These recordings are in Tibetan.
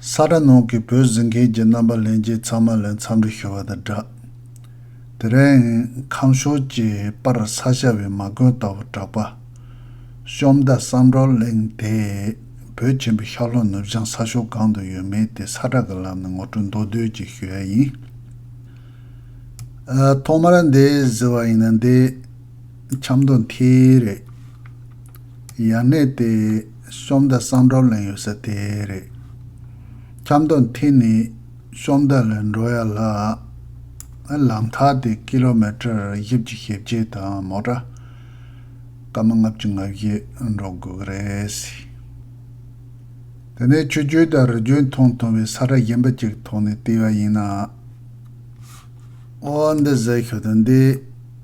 ས་དགྲ་ནང་གི་བོད་ཟིང་མཁན་གྱི་རྣམ་པ་ལེན་རྗེས་ཚང་མ་ལས་མཚམས་འདྲི་ཞུ་བ་དང་སྦྲགས། དེ་རིང། ཁམས་ཕྱོགས་ཀྱི་པར་ས་ཤར་བའི་མ་དགོན་ལྟ་བུར་གྲགས་པ། གཤོམ་མདའ་བསམ་གྲོགས་གླིང་དེ། བོད་ཆེན་པོའི་ཤར་ལྷོ་ནུབ་བྱང་ས་ཕྱོགས་གང་དུ་ཡོད་མེད་དེ་ས་བསྒྲགས་ཀྱི་ལམ་ནས་ངོ་སྤྲོད་མདོ་བསྡུས་ཀྱིས་ཞུ་ཡ་ཡིན། ཐོག་མར་འདི་ཟེར་བ་ཡིན་ན་འདི། ཆབ་མདོ་མཐིལ་རེད། ཡར་གནས་ཏེ་གཤོམ་མདའ་གསང་སྒྲོག་ལེན་ཡོད་ས་དེ་རེད། ཁྱམས་མདོ་མཐིལ་ནས་གཤོམ་མདའ་ལ་འགྲོ་ཡ་ལ། ལམ་ཐག་དེ་ཀི་ལོ་མེ་ཏར་བཞི་བཅུ་ཞེ་བརྒྱད་དང་མོ་ཏྲ་སྐར་མ་ལྔ་བཅུ་ང་བཞི་འགྲོ་དགོས་ཀི་རེད། དེ་ནས་ཆུ་རྒྱུན་དང་རི་རྒྱུན་མཐོང་ཐུང་བའི་ས་ར་གཞན་པ་ཅིག་ཐོག་ནས་བལྟས་པ་ཡིན་ན། ཨོ་འདི་ཟེར་ཤོད་དོན་འདི།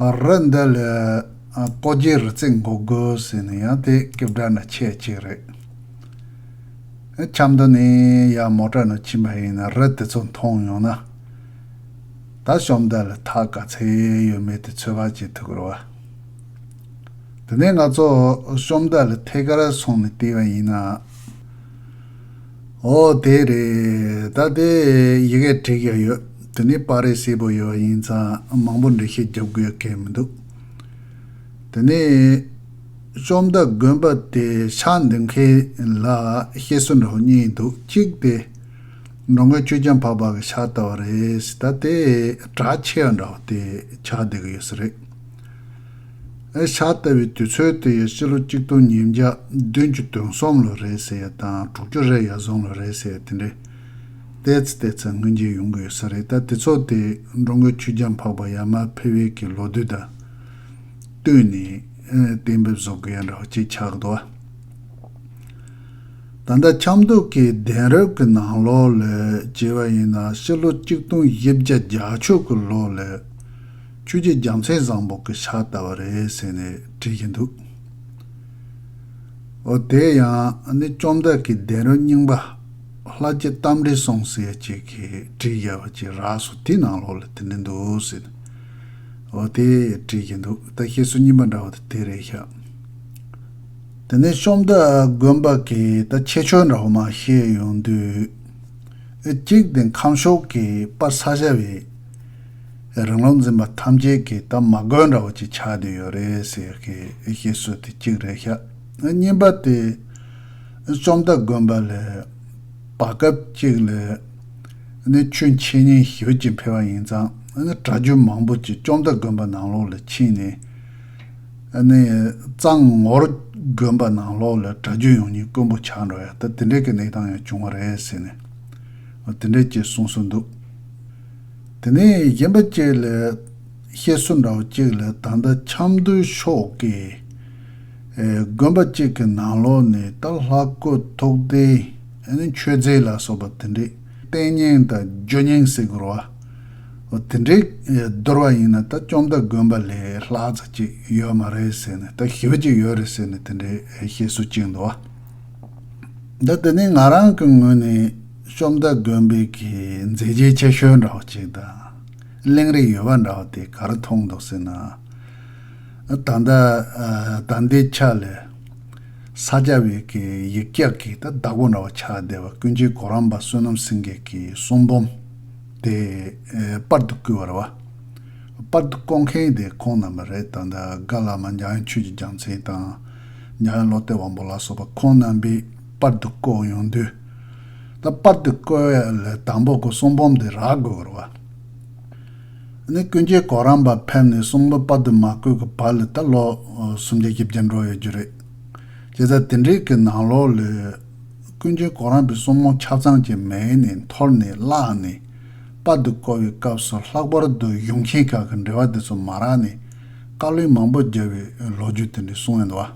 ར་འདི་ལས་ལྐོག་རྒྱའི་རི་རྩེ་འགོག་དགོས་ཟེར་ནས་ཡང་དེ་སྐད་བསྒྲགས་ན་ཆད་ཅིག་རེད། ཁྱམས་དུ་ནས་ཡར་མོ་བཀྲ་ནོར་ཕྱིན་པ་ཡིན་ན་རི་དེ་ཚོ་མཐོང་ཡོང་ན། ད་གཤོམ་འདི་ལ་ཐག་ག་ཚད་ཡོད་མེད་དེ་ཚོད་དཔག་བྱེད་ཐུབ་རོ། དེ་ནས་ང་ཚོ་གཤོམ་འདི་ལ་ཐད་ཀར་སོང་ནས་བལྟས་པ་ཡིན་ན། ཨོ་དེ་རེད། ད་ལྟའི་ཡི་གེ་བྲིས་ཀྱང་ཡོད། དེ་ནི་པར་རིས་སེར་པོ་ཡོད་པ་ཡིན་ཙང་མང་པོ་འབྲི་ཤེས་རྒྱབ་དགོས་སྐད་མི་འདུག། དེ་ནི། བཅོམ་མདའ་དགོན་པ་དེ་ཕྱག་འདེབས་མཁན་ལ་ཤེས་སོ་འདྲ་བོ་གཉིས་འདུག་གཅིག་དེ། འགྲོ་མགོན་ཆོས་རྒྱལ་འཕགས་པ་གི་ཕྱག་བལྟ་བ་རེད། ད་ལྟའི་གྲགས་ཆེ་བ་འདྲ་བོ་དེ་ཕྱག་བསྡད་ཀྱི་ཡོད་ས་རེད། ཨེ་ཤ་ལྟ་བུའི་དུས་ཚོད་དེ་ཡི་སྤྱི་ལོ་གཅིག་སྟོང་ཉིས་བརྒྱ་བདུན་བཅུ་དོན་གསུམ་ལོ་རེད་ཟེར་ཡ་དང་དྲུག་ཅུ་རེ་ཡ་གཟུང་ལོ་རེད་ཟེར་ཡ་དེ་འདྲའི་ལྟས་ཚེ་ལྟས་ཚེ་ངོས་འགྱེལ་ཡོང་གི་ཡོད་ས་རེད་ད་དེ་ཚོ་དེ་འགྲོ་མགོན་ཆོས་རྒྱལ་འཕགས་པ་ཡ་མ་ཕེ་བེ་ཀྱི་ལོ་དུས་དང་བསྟུན་ནས་གཏན་འབེབས་བཟོ་གི་ཡ་འདྲ་བ་གཅིག་ཆགས་འདུག་ཨ། ད་ལྟ་ཆབ་མདོ་གི་གདན་རབས་ཀྱི་ནང་ལོ་ལས་བྱེད་པ་ཡིན་ན་སྤྱི་ལོ་གཅིག་སྟོང་བཞི་བརྒྱ་བརྒྱ་ཕྱུག་གི་ལོ་ལས། ཁྱོད་ཀྱི་རྒྱ་མཚོའི་བཟང་པོ་གི་ཕྱག་ལྟ་བུ་རེད་ཟེར་ནས་དྲིས་བཞིན་འདུག་ཨོ། དེ་ཡང་ནི་བཅོམ་བདག་གི་བདེན་རོལ་རྙིང་པ་ལྷ་རྗེ་རྟ་མགྲིན་སྲོང་སྲས་ཅིག་གིས་བྲིས་བཞག་པ་ཅིག་རགས་སོ་དེའི་ནང་ལོགས་ལ་དེ་འདྲ་འདུག་ཟེར་ནས་ཨོ་དེ་དྲིས་བཞིན་འདུག་ད་བཤད་སྲོལ་རྙིང་པ་འདྲ་བོ་དེ་དེ་རེད་ཤག། དེ་ནས་བཅོམ་བདག་དགོན་པ་གི་ད་ཁྱད་ཆོས་འདྲ་བོ་མ་བཤད་ཡོང་དུས། ཨེ་གཅིག་དེ་ཁམས་ཕྱོགས་ཀྱི་པ་ས་ཞབས་ཡིན། རང་བློ་འཛིན་པ་ཐམས་ཅད་ཀྱིས་ད་མ་དགོས་འདྲ་བོ་ཅིག་ཆགས་བསྡད་ཡོད་རེད་ཟེར་གི་ཞེས་སོ་དེ་གཅིག་རེད་ཤག་གཉིས་པ་དེ་རྩོམ་སྟ་གོན་པ་ལས་བར་སྐབས་གཅིག་ལས་ནི་ཆོས་འཆད་ཉན་ཞི་བ་ཅིག་འཕེལ་བ་ཡིན་ཙང་གྲྭ་རྒྱུན་མང་པོ་ཅིག་རྩོམ་སྟ་གོན་པ་ནང་ལོགས་ལ་ཕྱིན་ནས་ནི་གཙང་ངོར་གོན་པ་ནང་ལོགས་ལ་གྲྭ་རྒྱུན་ཡོང་ཉིན་དཀོན་པོ་ཆགས་འགྲོ་ཡ་ད་དེ་འདྲའི་གི་གནས་སྟངས་ཡང་བྱུང་བ་རེད་ཟེར་ནས་དེ་འདྲས་ཅེས་གསུངས་སྲོལ་འདུག། དེ་ནས་གཞན་པ་གཅིག་ལ། བཤད་སྲོལ་འདྲ་བ་གཅིག་ལ་ད་ལྟ་ཆབ་མདོའི་ཕྱོགས་ཀྱི། དགོན་པ་གཅིག་གི་ནང་ལོགས་ནས་ད་ལྷ་བཀོད་ཐུགས་རྟེན་ནི་མཆོད་རྫས་ལ་སོགས་པ་དེ་འདྲའི་རྟེན་སྙིང་དང་ཇོ་སྙིང་ཟེར་དགོས་རོ། དེ་འདྲས་བསྡུར་བ་ཡིན་ན་ད་བཅོམ་མདའ་དགོན་པ་ལས་ལྷག་རྩ་གཅིག་ཡོད་མ་རེད་ཟེར་ནས་ད་ཞི་བ་གཅིག་ཡོད་རེད་ཟེར་ནས་དེ་འདྲའི་བཤད་སྲོལ་གཅིག་འདུག་བ། ད་དེ་ནི་ང་རང་གི་ངོས་ནས། ཤོམ་མདའ་དགོན་དཔོན་གྱིས་མཛེས་རྗེས་ཆེ་ཤོས་འདྲ་བོ་ཅིག་དང། གླེང་རིགས་ཡོད་པ་འདྲ་བོ་དེ་ག་རེ་མཐོང་འདུག་ཟེར་ན། ད་ལྟ་ད་ལྟའི་ཆ་ལས། ས་སྐྱ་བོད་ཀྱི་ཡིག་བཀྱག་གི་ད་བདག་པོ་འདྲ་བོ་ཆགས་བསྡད་པ་ཀུན་གྱིས་གོ་རམས་པ་བསོད་ནམས་སེང་གེ་གྱི་གསུང་འབུམ་དེ་དཔར་དུ་བསྐུར་བར་བ། དཔར་དུ་བསྐོ་མཁན་དེ་ཁོང་རྣམ་པ་རེད་ད་ལྟ་དགའ་བླ་མ་འཇའ་ཡང་ཆོས་ཀྱི་རྒྱང་མཚན་དང། འཇའ་ཡང་བློ་གཏད་དབང་པོ་ལ་སོགས་པ་ཁོང་རྣམ་པས། པར་དུ་བསྐོ་ཡོང་དུས། ད་པར་དུ་བསྐོ་བའི་ལས་དང་པོ་སྐོར་གསུམ་བུམ་དེ་རག་དགོས་བར་བ། ནི་ཀུན་མཁྱེན་གོ་རམས་པ་ཕེབས་ནས་གསུང་ལོ་པར་དུ་མ་བསྐོས་ཀྱི་བར་ལས་ད་ལོ་སུམ་བརྒྱ་ཁྱི་བརྒྱད་འགྲོ་ཡོད་རྒྱུ་རེད། ཅེས་ཚ་དེ་འབྲེལ་གྱི་ནང་ལོགས་ལས། ཀུན་མཁྱེན་གོ་རམས་པའི་གསུང་མོ་ཆ་ཚང་གྱི་མལ་ནས་འཐོར་ནས་བླངས་ནས། པར་དུ་བསྐོ་བའི་སྐབས་སུ་ལྷག་པར་དུ་གཞུང་མཁན་ཁག་གི་འབྲེལ་བ་དེ་ཚོ་མ་རག་ནས། བཀའ་བློན་མང་པོ་རྒྱབ་པའི་ལོ་རྒྱུས་དེ་འདྲའི་གསུང་ཡོད་འདུག་བ།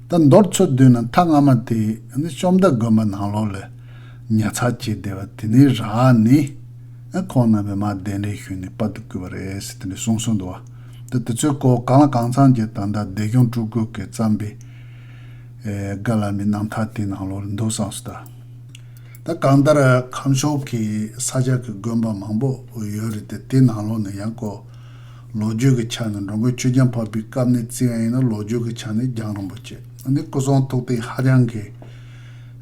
ད་མདོར་འཚོལ་སྡོད་ན་མཐའ་སྔ་མ་དེ་ནི་བཅོམ་མདའ་དགོན་པ་ནང་ལོགས་ལས་ཉར་ཚགས་བྱས་བསྡད་པ་དེ་ནི་རག་ནི་ཁོང་རྣམ་པས་མ་གདན་རེ་ཞུས་ནས་སྤར་དུ་བསྐུལ་བ་རེད་ཟེར་དེ་འདྲའི་གསུང་སྲོལ་འདུག་བ་དེ་ཚོའི་སྐོར་གང་ལ་གང་ཚང་གྱི་ད་ལྟ་བདེ་སྐྱོང་སྤྲུལ་སྐུ་གིས་བརྩམས་པའི་བཀའ་ལ་མི་གནང་མཐའ་དེ་ནང་ལོགས་ལས་འདུག་བསམ་སོ་ད། ད་གང་ལྟར་ཁམས་ཕྱོགས་ཀྱི་ས་ཆ་གི་དགོན་པ་མང་པོ་ཡོད་རེད་དེ་དེ་ནང་ལོགས་ནས་ཡང་སྐོར། ལོ་རྒྱུས་ཀྱི་ཆ་ནས་འགྲོ་མགོན་ཆོས་རྒྱལ་འཕགས་པའི་སྐབས་ནས་བརྩི་བ་ཡིན་ན་ལོ་རྒྱུས་ཀྱི་ཆ་ནས་རྒྱང་རིང་པོ་ཆེ་ན་ནི་སྐུ་གསུང་ཐུགས་རྟེན་ཧ་ཅང་གི་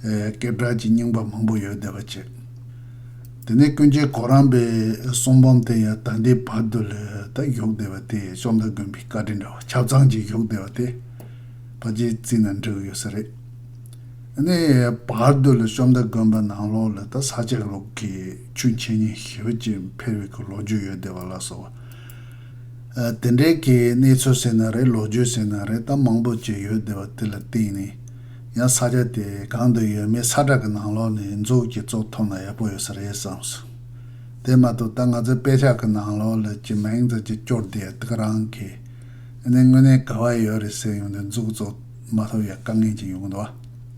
སྐད་གྲགས་ཀྱི་རྙིང་པ་མང་པོ་ཡོད་བསྡད་པ་བྱེད། དེ་ནས་ཀུན་མཁྱེན་གོ་རམས་པའི་གསུང་འབུམ་དེ་ཡང་ད་ལྟའི་བར་དུ་ལས་ད་བཞུགས་བསྡད་པ་དེ་བཅོམ་ལྡན་མགོན་པོའི་བཀའ་དྲིན་འདྲ་བ་ཆ་ཚང་གཅིག་བཞུགས་བསྡད་པ་དེ་ཕ་རྗེས་བརྩིས་ན་འགྲིག་ཡོད་ས་རེད། དེ་ནས་བར་དུ་ལས་བཅོམ་ལྡན་མགོན་པོ་ནང་ལོགས་ལས་ད་ས་ཆ་ལུགས་ཀྱི། ཆུ་མཁྱེན་གཉིས་ཞི་བ་བཅས་འཕེལ་བའི་གི་ལོ་རྒྱུས་ཡོད་བསྡད་པ་ལ་སོགས་པ། དེ་འདྲའི་གི་གནས་ཚུལ་ཟེར་ན་རེད་ལོ་རྒྱུས་ཟེར་ན་རེད་གཏམ་མང་པོ་བཅས་ཡོད་བསྡད་པ་དེ་ལ་བརྟེན་ནས་ཡང་ས་ཆ་དེ་གང་དུ་ཡོད་མེད་ས་བསྒྲགས་གི་ནང་ལོགས་ནས་མཛུབ་ཀྱིས་ཙོག་ཐོབ་ན་ཡག་པོ་ཡོད་ས་རེད་བསམ་སོང། དེ་མ་གཏོགས་ད་ང་ཚོའི་དཔེ་ཆ་གི་ནང་ལོགས་ལ་གྱི་མིང་ཙམ་གྱིས་སྐྱོར་བསྡད་དག་རང་གི་ནས་དངོས་གནས་ག་བ་ཡོད་རེད་ཟེར་ཡོང་དུས་མཛུབ་ཀྱི་ཙོག་མ་ཐོབ་ཡག་དཀའ་ངལ་གྱི་ཡོང་དུ་བ།